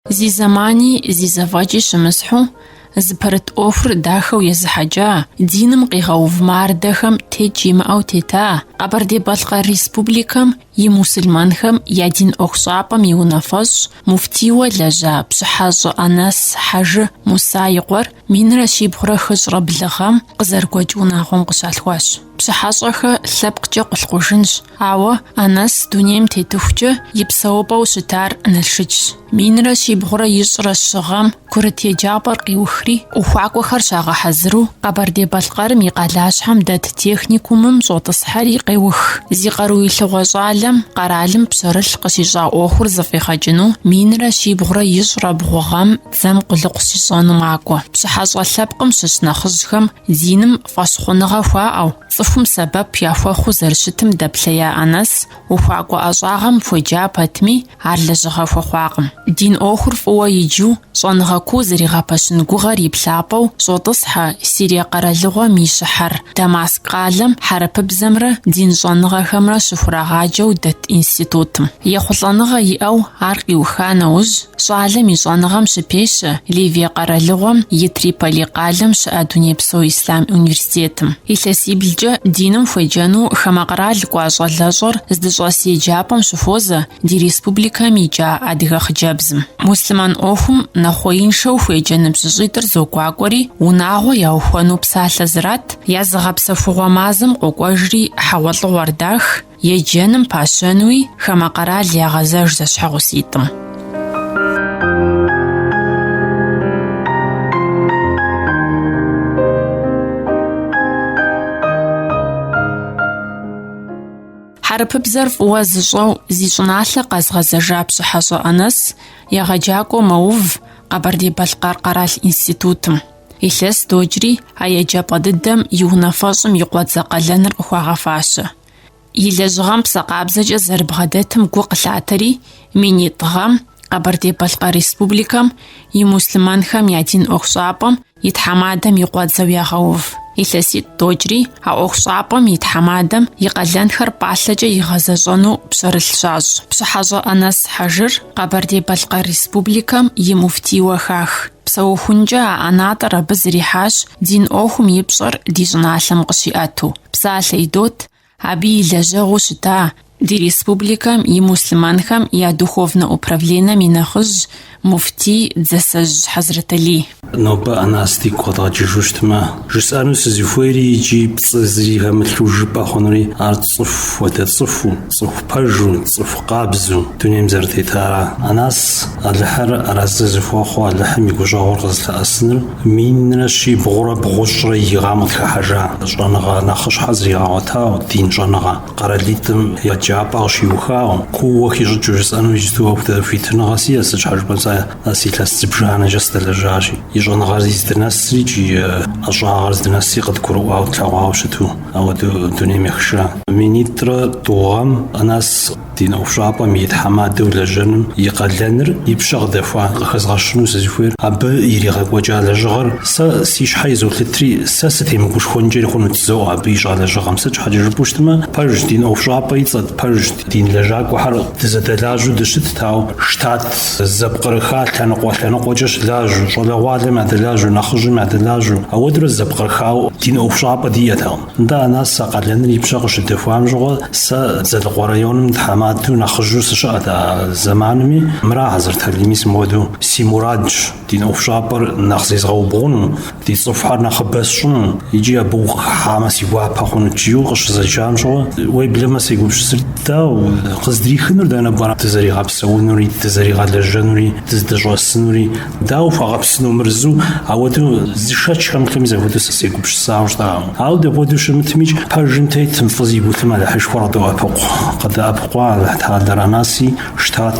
Зи зэмани зи зэфӏэкӏи щымысхьу, зыпэрыт ӏуэхур дахэу езыхьэкӏа, диным къигъэув мардэхэм текӏ имыӏэу тета Къэбэрдей-Балъкъэр Республикэм и мусульманхэм я дин ӏуэхущӏапӏэм и унафэщӏ, муфтийуэ лэжьа Пщыхьэщӏэ Анэс Хьэжы Муса и къуэр минрэ щибгъурэ хыщӏрэ блы гъэм къызэрыгуэкӏ унагъуэм къыщалъхуащ. Пщыхьэщӏэхэ лъэпкъкӏэ Къулъкъужынщ, Ауэ Анэс дунейм тетыхукӏэ и псэупӏэу щытар Налшычщ. Минрэ щибгъурэ ищӏрэ щы гъэм курыт еджапӏэр къиухри, ухуакӏуэхэр щагъэхьэзыру Къэбэрдей-Балъкъэрым и къалащхьэм дэт техникумым щӏотӏысхьэри къеух. Зи къаруилъыгъуэ щӏалэм къэралым пщэрылъ къыщищӏа ӏуэхур зэфӏигъэкӏыну минрэ щибгъурэ ищӏрэ бгъу гъэм дзэм къулыкъу щищӏэну макӏуэ. Пщыхьэщӏэ лъэпкъым щыщ нэхъыжьхэм Диным фӏэщхъуныгъэ хуаӏэу, цӏыхум сэбэп яхуэхъуу зэрыщытым дэплъея Анэс ухуакӏуэ ӏэщӏагъэм хуеджа пэтми, ар лэжьыгъэ хуэхъуакъым. Дин ӏуэхур фӏыуэ иджу, щӏэныгъэ куу зэригъэпэщын гугъэр и плъапӏэу щӏотӏысхьэ Сирие къэралыгъуэм и щыхьэр, Дамаск къалэм хьэрыпыбзэмрэ дин щӏэныгъэхэмрэ щыхурагъаджэу дэт институтым. Ехъулӏэныгъэ иӏэу ар къиуха нэужь, Щӏалэм и щӏэныгъэм щыпещэ Ливие къэралыгъуэм и Триполи къалэм щыӏэ Дунейпсо Ислъам университетым. Илъэсиблкӏэ диным хуеджэну хамэ къэрал кӏуа щӏалэщӏэр здыщӏэс еджапӏэм щыхуозэ ди республикэм икӏа адыгэ хъыджэбзым. Муслъымэн ӏуэхум нэхъуеиншэу хуеджэ ныбжьыщӏитӏыр зогуакӏуэри, унагъуэ яухуэну псалъэ зрат, я зыгъэпсэхугъуэ мазэм къокӏуэжри хьэгъуэлӏыгъуэр дах, Еджэным пащэнуи хамэ къэрал ягъэзэж зэщхьэгъуситӏым. Хьэрыпыбзэр фӏыуэ зыщӏэу зи щӏыналъэ къэзгъэзэжа Пщыхьэщӏэ Анэс егъэджакӏуэу мэув Къэбэрдей-Балъкъэр къэрал институтым. Илъэс докӏри а еджапӏэ дыдэм и унафэщӏым и къуэдзэ къалэныр къыхуагъэфащэ. И лэжьыгъэм псэ къабзэкӏэ зэрыбгъэдэтым гу къылъатэри, минитӏ гъэм Къэбэрдей-Балъкъэр Республикэм и муслъымэнхэм я дин ӏуэхущӏапӏэм и тхьэмадэм и къуэдзэу ягъэув. Илъэситӏ докӏри а ӏуэхущӏапӏэм и тхьэмадэм и къалэнхэр пӏалъэкӏэ игъэзэщӏэну пщэрылъ щащӏ. Пщыхьэщӏэ Анэс Хьэжыр Къэбэрдей-Балъкъэр Республикэм и муфтийуэ хах. Псэухункӏэ а ӏэнатӏэр абы зрихьащ дин ӏуэхум и пщӏэр ди щӏыналъэм къыщиӏэту. Псалъэ идот абы и лэжьэгъуу щыта ди республикэм и муслъымэнхэм я духовнэ управленэм и нэхъыжь муфтий Дзасэжь Хьэзрэталий. Нобэ Анэс дигу къэдгъэкӏыжу щытмэ, жысӏэну сызыхуейри икӏи пцӏы зыри хэмылъу жыпӏэ хъунури ар цӏыху, уэдэ цӏыхуу. Цӏыху пэжу, цӏыху къабзэу дунейм зэрытетара. Анас Алыхьыр арэзы зыхуэхъуу Алыхьым и гущӏэгъур къызылъэӏэсыныр минрэ щибгъурэ бгъущӏрэ и гъам къытхыхьэжа щӏэныгъэ нэхъыщхьэ зригъэгъуэтауэ, дин щӏэныгъэ, къэралитӏым еджапӏэ къыщиухауэ, кууэ хищӏыкӏыу жысӏэну иджыпсту ауэдэ хуитыныгъэ сиӏэ, сыт щхьэ жыпӏэм сэ Анас илъэс зыбжанэкӏэ сдэлэжьащи, и щӏэныгъэр зи здынэсри икӏи ӏэщӏагъэр здынэсри къыдгурыӏуауэ тлъэгъуауэ щыту. Ауэдэу дунейм ехыжа. Минитӏрэ тӏу гъэм Анас дин ӏуэхущӏапӏэм и тхьэмадэу лэжьэным и къалэныр и пщэ къыдэхуа. Къыхэзгъэщыну сызыхуейр, абы иригъэкӏуэкӏа лэжьыгъэр сэ си щхьэ изолъытри, сэ сытемыгушхуэнкӏэри хъунут, зоӏэ абы ищӏа лэжьыгъэм. Сыт щхьэкӏэ жыпӏэу щытмэ, пэжщ, дин ӏуэхущӏапӏэ и цӏэт, пэжщ. Дин лэжьакӏуэхэр дызэдэлажьэу дыщытт, ауэ штат зэпкърыха лъэныкъуэ-лъэныкъуэкӏэ щылажьэу, щӏалэгъуалэм ядэлажьэу, нэхъыжьым ядэлажьэу, ауэдурэ зэпкърыхауэ дин ӏуэхущӏапӏэ диӏэтэкъым. Нтӏэ, Анас а къалэныр и пщэ къыщыдэхуам щыгъуэ, сэ Дзэлыкъуэ районым тхьэмадэу нэхъыжьу сыщыӏэт а зэманми, мыра Хьэзрэталий, мис мыуэдэу си мурадщ дин ӏуэхущӏапӏэр нэхъ зезгъэубгъуну, Ди цӏыхухэр нэхъыбэ сщӏыну икӏи абы ухыхьамэ си гуапэ хъунут жиӏэу къыщызэджам щыгъуэ уеблэмэ сегупщысырт дауэ къыздрихынур дэнэ пӏэрэ дызэригъэпсэунури, дызэригъэлэжьэнури, дыздэщӏэсынури, дауэ хуэгъэпсыну мыр жысӏэу, ауэдэу зы шэч хэмылъэми захуэдэу сэ сегупщысауэ щыта. Ауэ дапхуэдэу щымытмикӏ, пэжым тетым фӏы зигу илъым Алыхьышхуэр къыдоӏэпыкъу. Къыдэӏэпыкъуа Алыхьталэр Анаси, штат.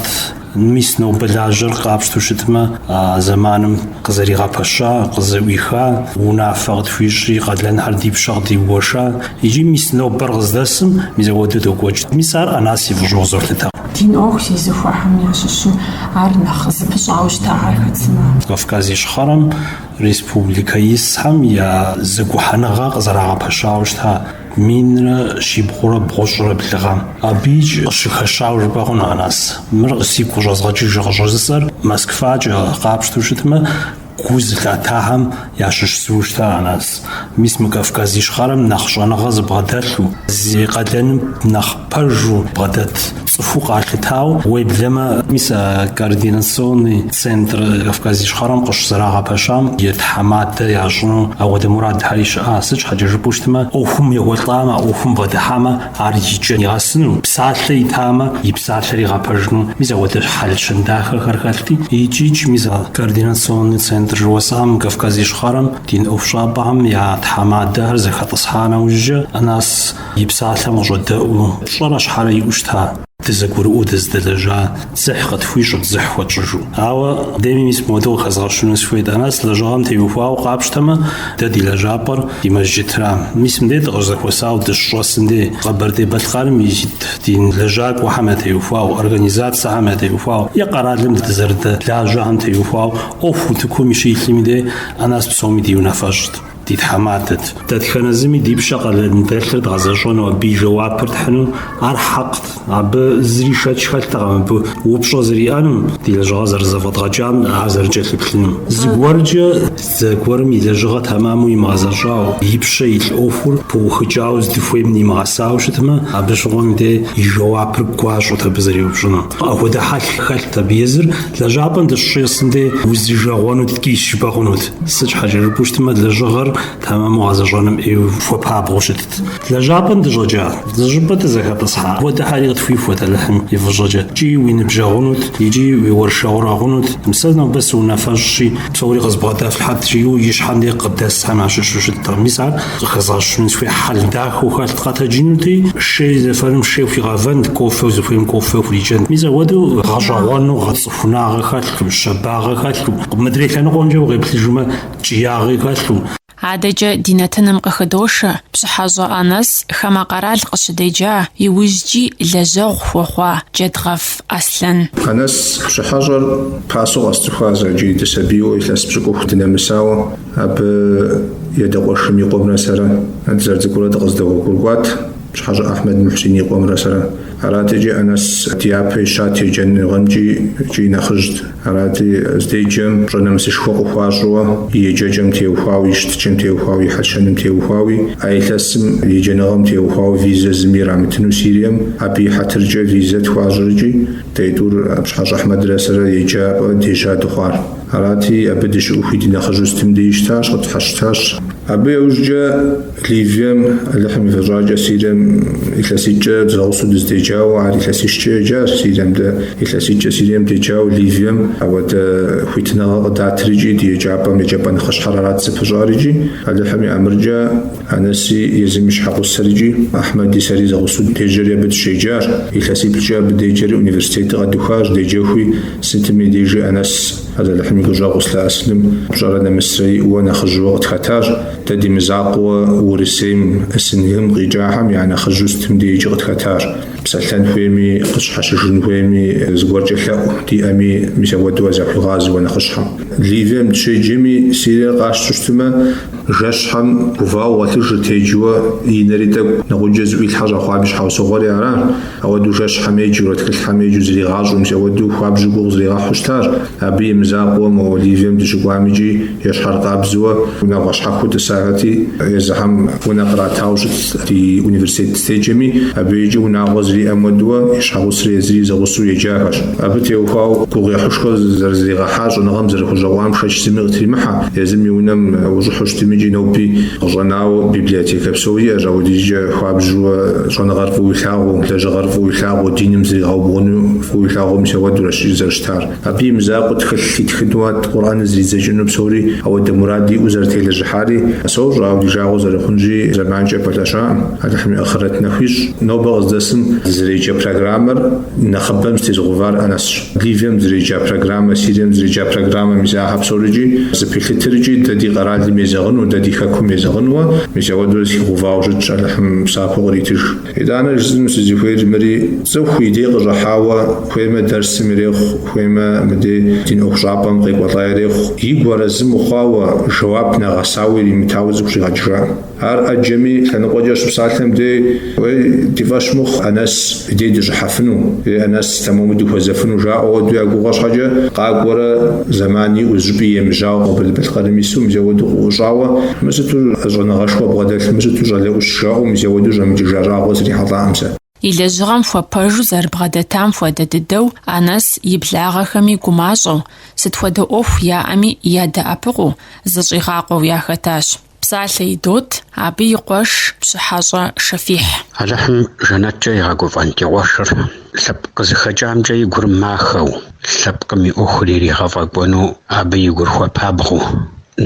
Мис нобэ лажьэр къапщтэу щытмэ, а зэманым къызэригъэпэща, къызэӏуиха, унафэ къытхуищӏри, къалэнхэр ди пщэ къыдигуэша, икӏи мис нобэр къыздэсым мис ауэдэу докӏуэкӏ. Мис ар Анас и фӏыщӏэу къызолъытэ. Дин ӏуэху зезыхуэхэм ящыщу ар нэхъ зыпыщӏауэ щытагъэр хэт сымэ? Кавказ Ищхъэрэм республикэ исхэм я зэгухьэныгъэ къызэрагъэпэщауэ щыта Минрэ щибгъурэ бгъущӏрэ блы гъэм. Абы икӏ къыщыхэщауэ жыпӏэ хъуну Анас. Мыр сигу къыщӏэзгъэкӏыжу къыщӏыжысӏэр Москвакӏэ къапщтэу щытмэ, гу зылъатахэм ящыщ зыу щыта Анас. Мис мы Кавказ Ищхъэрэм нэхъ щӏэныгъэ зыбгъэдэлъу, зи къалэным нэхъ Пэжу бгъэдэт цӏыхуу къалъытауэ, уеблэмэ, мис а координационный центр Кавказ Ищхъэрэм къыщызэрагъэпэщам и тхьэмадэ ящӏыну ауэдэ мурадхэри щыӏа. Сыт щхьэкӏэ жыпӏэу щытмэ, ӏуэхум екӏуэлӏамэ, а ӏуэхум бгъэдыхьамэ, ар и кӏэ нигъэсыну, псалъэ итамэ, и псалъэр игъэпэжыну, мис ауэдэ хьэл-щэн дахэхэр хэлъти, икӏ-икӏ, мис а координационный центр жыхуэсӏам Кавказ Ищхъэрэм дин ӏуэхущӏапӏэхэм я тхьэмадэхэр зэхэтӏысхьа нэужькӏэ, Анас и псалъэм къыщӏэдэӏуу, пщӏэрэ щхьэрэ иӏэу щыта, дызэгурыӏуэу дызыдэлэжьа дзыхь къытхуищӏырт дзыхь хуэтщӏыжу. Ауэ деми мис мыуэдэу къыхэзгъэщыну сыхуейт, Анэс лэжьыгъэм теухуауэ къапщтэмэ, дэ ди лэжьапӏэр ди мэжджытра. Мис мыдей дыкъыщызэхуэсауэ дыщыщӏэсым дей, Къэбэрдей-Балъкъэрым ит ди лэжьакӏуэхэм ятеухуауэ, организацэхэм ятеухуауэ е къэралым дэ дызэрыдэлажьэхэм теухуауэ ӏуэху утыкум щилъми дей, Анэс псоми ди унафэщӏт. ди тхьэмадэт. Дэтхэнэ зыми ди пщэ къалэн дэлъыр дгъэзэщӏэну абы и жэуапыр тхьыну ар хьэкът, абы зыри шэч хэлътэкъым абы упщӏэ зэриӏэнум, ди лэжьыгъэр зэрызэфӏэдгъэкӏам ар зэрыкӏэлъыплъынум. Зыгуэркӏэ зэгуэрым и лэжьыгъэ тэмэму имыгъэзэщӏауэ, и пщэ илъ ӏуэхур пыухыкӏауэ здыхуейм нимыгъэсауэ щытмэ, абы щыгъуэм де и жэуапыр гуащӏэт абы зэреупщӏыну. Апхуэдэ хьэл хэлът абы езыр, лэжьапӏэм дыщыщӏэсым де узыжэгъуэну ткӏийщ жыпӏэ хъунут. Сыт щхьэкӏэ жыпӏэу щытмэ, лэжьыгъэр тэмэму гъэзэщӏэным ӏейуэ хуэпабгъэу щытт. Лэжьапӏэм дыщӏэкӏа, зы щӏыпӏэ дызэхэтӏысхьа апхуэдэхэри къытхуихуэт Алыхьым и фӏыщӏэкӏэ. Икӏи уи ныбжьэгъунут, икӏи уи уэршэрэгъу хъунут, сэ нобэ сыунафэщӏщи, псори къызбгъэдэфлъхьэт, жиӏэу и щхьэм де къыдэсхэм ящыщу щыттэкъым. Мис ар къыхэзгъэщыну сыхуейщ, хьэл дахэу хэлът, къэтэджынути, шей зэфэным шей хуигъэвэнт, кофеу зыхуейм кофе хурикӏэнт. Мис апхуэдэу гъэщӏэгъуэну гъэцӏыху. хунагъэ хэлъу, щэбагъэ хэлъу, мыдрей лъэныкъуэмкӏэ укъеплъыжмэ, ткӏиягъи хэлъу. Адэкӏэ ди нэтыным къыхыдошэ Пщыхьэщӏэ Анэс хамэ къэрал къыщыдеджа, иужькӏи лэжьэгъу хуэхъуа Джэдгъэф Аслъэн. Анэс Пщыхьэщӏэр пасэу къэсцӏыхуа сэ иджы дысабийуэ илъэс пщыкӏуху дынэмысауэ, абы и адэ къуэшым и къуэмрэ сэрэ, дызэрыцӏыкӏурэ дыкъыздэгъуэгурыкӏуат Пщыхьэщӏэ Ахьмэд Мухьсин и къуэмрэ сэрэ. Аратекӏи Анэс дяпэ ищат еджэныгъэмкӏи икӏи нэхъыжьт. Арати, здеджэм пщӏэ нэмысышхуэ къыхуащӏыуэ и еджэкӏэм теухуауи, и щытыкӏэм теухуауи, и хьэл-щэным теухуауи, а илъэсым еджэныгъэм теухуауэ визэ зыми ирамытыну Сирием, абы и хьэтыркӏэ визэ тхуащӏри икӏи дэ тӏур Пщыхьэщӏэ Ахьмэдрэ сэрэ еджапӏэ дежьа дыхъуар. Арати, абы дыщыӏэхуи ди нэхъыжьу сытым деи щытащ, къытщхьэщытащ. Абы иужькӏэ. Ливием, Алыхьым и фӏыщӏэкӏэ, Сирием илъэситӏкӏэ зэгъусэу дыздеджауэ, ар илъэсищкӏэ еджащ Сирием дэ, илъэситӏкӏэ Сирием деджауэ Ливием ауэдэ хуитыныгъэ къыдатри икӏи ди еджапӏэм еджапӏэ нэхъыщхьэр арат зыпыщӏар икӏи, Алыхьым и ӏэмыркӏэ, Анэси езым и щхьэгъусэр икӏи Ахьмэди сэри зэгъусэу дежьэри абы дыщеджащ, илъэсиплӏкӏэ абы деджэри университетыр къэдухащ, деджэхуи сытми дежи Анэс, Алыхьым и гущӏэгъу зылъэӏэсыным пщӏэрэ нэмысрэ иӏэуэ нэхъыжьыуэ къытхэтащ, Дэ ди мызакъуэ Урысейм, СНГ-м къикӏахэм я нэхъыжьу сытым дежкӏи къытхэтащ. Псэлъэн хуейми, къыщхьэщыжын хуейми, зыгуэркӏэ лъэӏу диӏэми, мис ауэдэуэ захуигъазэуэ нэхъыщхьэм. Ливием дыщеджэми, Сириер къащту щытмэ, жэщхьэм гувауэ гъуэлъыжырт, еджэуэ и нэри тӏэкӏу, нэгъуджэ зыӏуилъхьэ щӏэхъуам и щхьэусыгъуэри аращ. Ауэдэу жэщхьэм еджэурэ тхылъхэм еджэу зригъащӏэу мис ауэдэу хуабжьу гугъу зригъэхьу щытащ. Абы и мызакъуэуэ мо Ливием дыщыкӏуамикӏи ещхьэр къабзэуэ унагъуэ щхьэхуэу тӏысахэти, езыхэм унэ къратауэ щытти университет здеджэми, абыикӏи унагъуэ зриӏэм хуэдэуэ и щхьэгъусри езыри зэгъусэу еджахэщ. Абы теухуауэ гугъуехьышхуэ зэрызригъэхьар щӏэныгъэм зэрыхущӏэкъуам шэч зыми къытримыхьэ, езым и унэм ущӏыхьэу щытмикӏи ноби къыщӏэнауэ библиотекэ псори иӏэщ, ауэдизкӏэ хуабжьуэ Щӏэныгъэр фӏыуэ илъагъуу, лэжьыгъэр фӏыуэ илъагъуу, диным зригъэубгъуну фӏыуэ илъагъуу мис ауэдурэщ зэрыщытар. Абы и мызакъуэ тхылъ итхынуат Къурӏэныр зридзэкӏыну псори ауэдэ мурад иӏэу зэрытелэжьыхьари. Сощӏэ, ауэ ди жагъуэ зэрыхъунщи, зэманкӏэ пэлъэщакъым. Алыхьым и Ахърэт нэху ищӏ. Нобэ къыздэсым зэреджэ программэр нэхъыбэм зэтезыгъэувар Анэсщ. Ливием зэреджа программэ, Сирием зэреджа программэ, мис ахэр псорикӏи зэпилъытрикӏи, дэ ди къэралым езэгъыну, дэ ди хэкум езэгъынуэ, мис ауэдурэ зэхигъэувауэ щытщ, Алыхьым псапэу къритыж. Итӏанэ жысӏэну сызыхуейр мыри, цӏыху и дей къыщӏыхьауэ, хуеймэ дэрсым ирехъу, хуеймэ мыдей дин ӏуэхущӏапӏэм къекӏуэлӏа ирехъу, игу арэзы мыхъуауэ, жэуап нэгъэсауэ иримытауэ цӏыху щӏигъэкӏыжакъым. Ар ӏэджэми, лъэныкъуэкӏэ щыпсалъэм дей, Уей, ди фӏэщ мыхъу, Анэс дей дыщӏыхьэфыну, е Анэс, тэмэму дыхуэзэфыну, жаӏэу уэду я гугъэ щхьэкӏэ, къакӏуэрэ, зэман иӏэу, зыщӏыпӏи емыжьауэ Къэбэрдей-Балъкъэрым ису, мис ауэду къыӏущӏауэ, Мы сыту щӏэныгъэшхуэ бгъэдэлъ, мы сыту щӏалэ ӏущ, жаӏэу, мис ауэду щӏэмыкӏыжа щӏагъуэ срихьэлӏакъым сэ. И лэжьыгъэм хуэпэжу зэрыбгъэдэтам хуэдэ дыдэу, Анэс, и благъэхэми гумащӏэу, сыт хуэдэ ӏуэху яӏэми ядэӏэпыкъуу, зыщӏигъакъуэу яхэтащ. Псалъэ идот абы и къуэш Пщыхьэщӏэ Шэфихь. Алыхьым жэнэткӏэ игъэгуфӏэн ди къуэшыр лъэпкъ къызыхэкӏамкӏэ и гур махэу, лъэпкъым и ӏуэхур иригъэфӏэкӏуэну абы и гур хуэпабгъэу,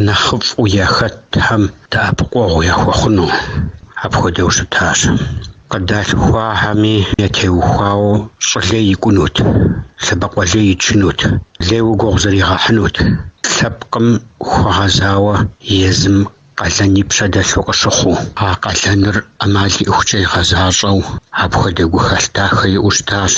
нэхъыфӏу яхэтхэм дэӏэпыкъуэгъу яхуэхъуну, апхуэдэу щытащ. Къыдалъхуахэми ятеухуауэ щӏы лей икӏунут, лъэбакъуэ лей ичынут, лейуэ гугъу зригъэхьынут, лъэпкъым хуэгъэзауэ езым къалэн и пщэ дэлъу къыщыхъуу. А къалэныр ӏэмал иӏыхукӏэ игъэзащӏэу, апхуэдэ гухэлъ дахэ иӏэу щытащ.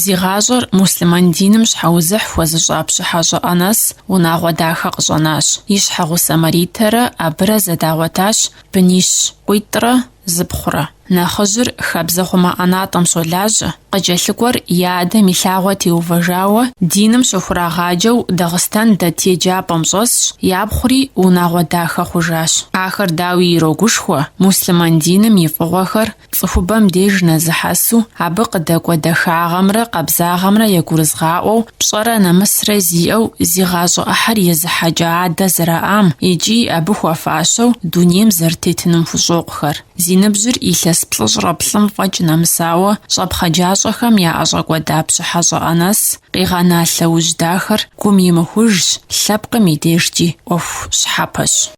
Зи гъащӏэр муслъымэн диным щхьэузыхь хуэзыщӏа Пщыхьэщӏэ Анэс унагъуэ дахэ къыщӏэнащ. И щхьэгъусэ Маритэрэ абырэ зэдагъуэтащ бынищ къуитӏрэ зыпхъурэ. Нэхъыжьыр хабзэ хъумэ ӏэнатӏэм щолажьэ, къыкӏэлъыкӏуэр и адэм и лъагъуэ теувэжауэ, диным щыхурагъаджэу Дагъыстэн дэт еджапӏэм щӏэсщ, япхъури унагъуэ дахэ хъужащ. Ахэр дауи ирогушхуэ, муслъымэн диным и фӏыгъуэхэр цӏыхубэм деж нэзыхьэсу, абы къыдэкӏуэ дахагъэмрэ къабзагъэмрэ ягурызыгъаӏуэу, пщӏэрэ нэмысрэ зиӏэу зи гъащӏэ ӏыхьэр езыхьэкӏа адэ зэраӏам икӏи абы хуэфащэу, дунейм зэрытетыным хущӏокъухэр. Зи ныбжьыр илъэс плӏыщӏрэ блым фӏэкӏ нэмысауэ, щӏэпхъаджащӏэхэм яӏэщӏэкӏуэда Пщыхьэщӏэ Анэс къигъэна лъэужь дахэр гум имыхужщ, лъэпкъым и дежкӏи ӏуэху щхьэпэщ.